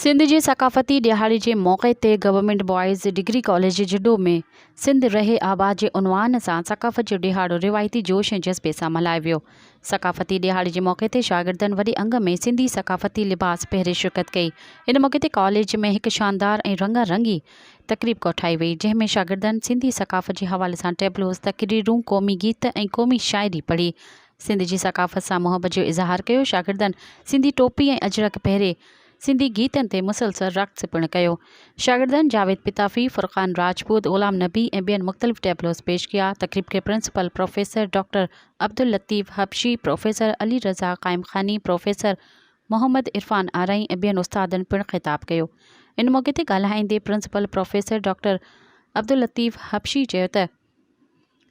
سنڌ جي ثقافتي ڏهاڙي جي موقعي تي government boys degree college Jhuddo ۾ Sindh رهي آباد جي عنوان سان ثقافت جو ڏهاڙو روايتي جوش ۽ جذبي سان ملهايو ويو. ثقافتي ڏهاڙي جي موقعي تي شاگردن وڏي انگ ۾ سنڌي ثقافتي لباس پهري شرڪت ڪئي. ان موقعي تي ڪاليج ۾ هڪ شاندار ۽ رنگا رنگي تقريب ڪوٺائي وئي، جنهن ۾ شاگردن سنڌي ثقافت جي حوالي سان ٽيبلوز، تقريرون، قومي گيت ۽ قومي شاعري پڙهي، سنڌ جي ثقافت سان محبت جو اظهار ڪيو، شاگردن سنڌي ٽوپي ۽ اجرڪ پهري، سنڌي گيتن تي مسلسل رقص پڻ ڪيو، شاگردن جاويد پتافي، فرقان راجپوت، غلام نبي ۽ ٻين مختلف ٽيبلوز پيش ڪيا، تقريب کي principal professor doctor Abdullatif Habshi, professor Ali Raza Qaimkhani, professor Muhammad Irfan Arai ۽ ٻين استادن پڻ خطاب ڪيو. ان موقعي تي ڳالهائيندي principal professor doctor Abdullatif Habshi چيو ته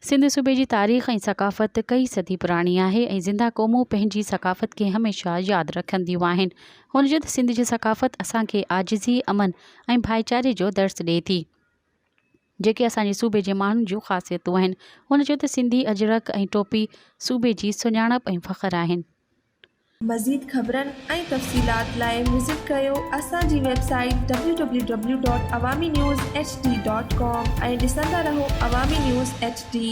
سنڌ صوبي جي تاريخ ۽ ثقافت ڪئي صدي پراڻي آهي ۽ زنده قومون پنهنجي ثقافت کي هميشه ياد رکنديون آهن. هن چيو ته سنڌ جي ثقافت اسان کي عاجزي، امن ۽ ڀائيچاري جو درس ڏئي ٿي. جيڪي اسان جي صوبي جي ماڻهن جون خاصيتون آهن. هن چيو ته سنڌي اجرڪ ۽ ٽوپي صوبي جي سڃاڻپ ۽ فخر آهن. مزيد خبرن ۽ تفصيلات لاء وزٽ ڪريو اسان جي ويب سائيٽ www.awaminewshd.com ۽ ڏسندا رهو عوامي نيوز ايڇ ڊي